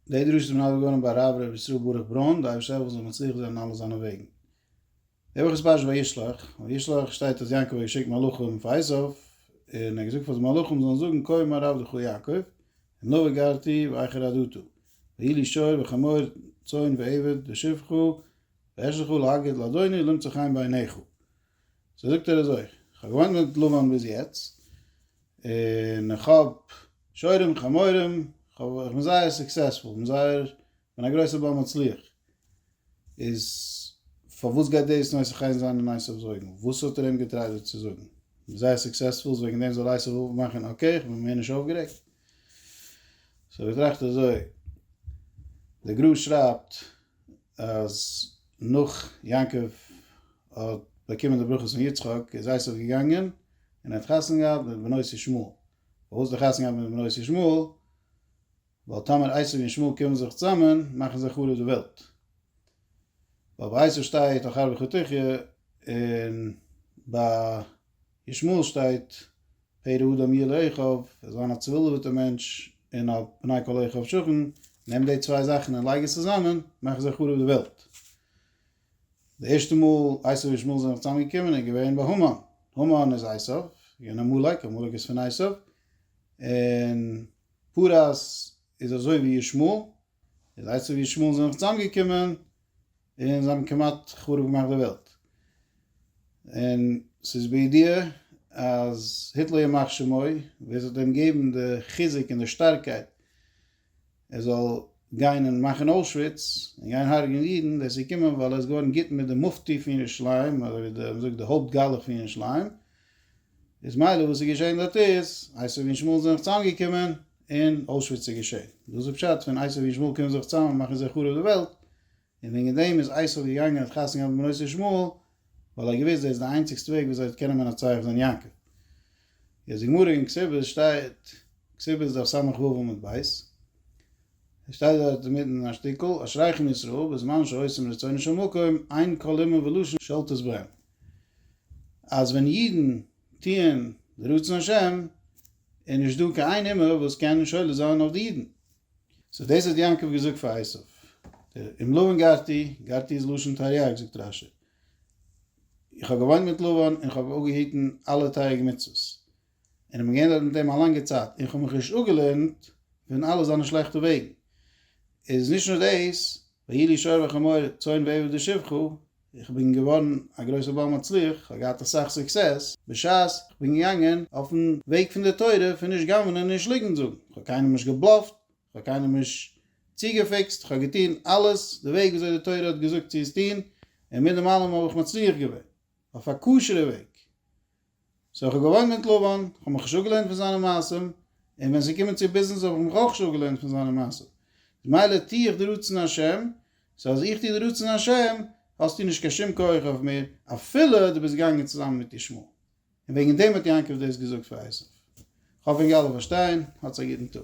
די דרשה איז מנדב געווארן ביי הרב ר' ישראל ברוך ברוין, די אייבערשטער העלפן זאל מצליח זיין אין אלע זיינע וועגן. די וואך איז פרשת וישלח, און וישלח שטייט אז יעקב האט געשיקט מלאכים פאר עשו, און ער האט געזאגט פאר די מלאכים זאלן זאגן כה אמר הרב לכל יעקב, נא וגרתי ואיכר עדתו, ויהי לי שור וחמור צאן ועבד ושפחו ואשלחו להגיד לאדוני למצא חן בעיניך. סאו זאגט ער אזוי, כ'האב געוואוינט מיט לבן ביז יעצט, און איך האב שרים חמורים, איך בין זייער סוקסעספול, כ'בין זייער, כ'בין א גרויסער בעל מצליח, איז פארוואס גייט דאס נושא חן זיין אין עשיו אויגן? וואס האט ער אים געטרייט דא צו זאגן? כ'בין זייער סוקסעספול, איז וועגן דעם זאל עשיו אפמאכן אקעי, כ'בין מער נישט אויפגערעגט? סאו איך טראכט אזוי, דער גרא שרייבט אז נאך יעקב האט באקומען די ברכות פון יצחק איז עשו געגאנגען און ער האט חתונה געהאט מיט בנות ישמעאל, פארוואס האט ער חתונה געהאט מיט בנות ישמעאל? ווייל טאמער עשו און ישמעאל קומען זיך צוזאמען מאכן זיי חרוב די וועלט, ווייל ביי עשו שטייט אחר בחטאיך און ביי ישמעאל שטייט, פרא האדם יהיה לאחיו, ער זאל זיין א צעווילדעוועטער מענטש, און א פני כל אחיו שוכן, נעם די צוויי זאכן און לייג עס צוזאמען, מאכן זיי חרוב די וועלט. די ערשטע מאל עשו און ישמעאל זענען זיך צוזאם געקומען איז געווען ביי המן, המן איז עשו, געווען עמלק, עמלק איז פון עשו, און פרא איז אזוי ווי ישמעאל, איז אייצער ווי ישמעאל זענען זיך צוזאמגעקומען און זיי האבן כמעט חרוב געמאכט די וועלט. און ס'איז בידיעה אז היטלער ימח שמו ווער ס'וועט אים געבן די חיזוק און די שטארקייט ער זאל גיין און מאכן אוישוויץ און גיין הרג'ען אידן ווער ס'קומען ווייל ער איז געווארן גוט מיט די מופטי פון ירושלים אזוי ווי די מ'זאגט די הויפט גלח פון ירושלים איז מילא וואס איז געשען דארט איז, עשיו און שמואל זענען זיך צוזאמגעקומען, און אוישוויץ איז געשען. דאס איז פשט פון עשיו און שמואל קומען זיך צוזאם און מאכן זיי חרוב די וועלט, און וועגן דעם איז עשיו געגאנגען האט חתונה געהאט מיט בנות של שמואל, ווייל ער האט געוואוסט דאס איז די איינציגסטע וועג ווי אזוי ער האט קענען מנצח זיין יעקב. יעצט די גמרא אין כסופות שטייט, כסופות דף סה ו עמוד ב', עס שטייט דארט אינמיטן א שטיקל, אשריכם ישראל בזמן שעושים רצונו של מקום, עיין כל לימוד ולשון של תוסברם. אז ווען אידן טוען די רצון השם איז נישט דא קיין איין אומה וואס קען שולט זיין אויף די אידן. סאו דאס האט יעקב געזאגט פאר עשו. דער עם לבן גרתי, גרתי איז לשון תרעג זאגט רש י. איך האב געוואוינט מיט לבן און איך האב אפגעהיטן אלע תריג מצוות. און איך בין געווען דארט מיט אים א לאנגע צייט און איך האב מיך נישט אפגעלערנט פון אלע זיינע שלעכטע וועגן. איז נישט נאר דאס, ויהי לי שור וחמור צאן ועבד ושפחה, איך בין געווארן א גרויסער בעל מצליח, איך האב געהאט אסאך סוקסעס, בשעת איך בין געגאנגען אויפן וועג פון די תורה פון נישט גנב'נען און נישט ליגנט זאגן, איך האב קיינעם נישט געבלאפט, איך האב קיינעם נישט צוגעפיקסט, איך האב געטון אלעס די וועג וויאזוי די תורה האט געזאגט צו עס טון, און מיט דעם אלעם האב איך מצליח געווען. אויף א כשר'ע וועג. סאו איך האב געוואוינט מיט לבן, כ'האב מיך נישט אפגעלערנט פון זיינע מעשים, און ווען ס'איז געקומען צו ביזנעס האב איך מיך אויך נישט אפגעלערנט פון זיינע מעשים. ממילא טו איך די רצון השם, סאו אז איך טו די רצון השם, האסטו נישט קיין שום כח אויף מיר, אפילו דו ביסט געגאנגען צוזאמען מיט ישמעאל. און וועגן דעם האט יעקב דאס געזאגט פאר עשיו. כ'האף אונז אלע פארשטייען. האטס א גוטן טאג.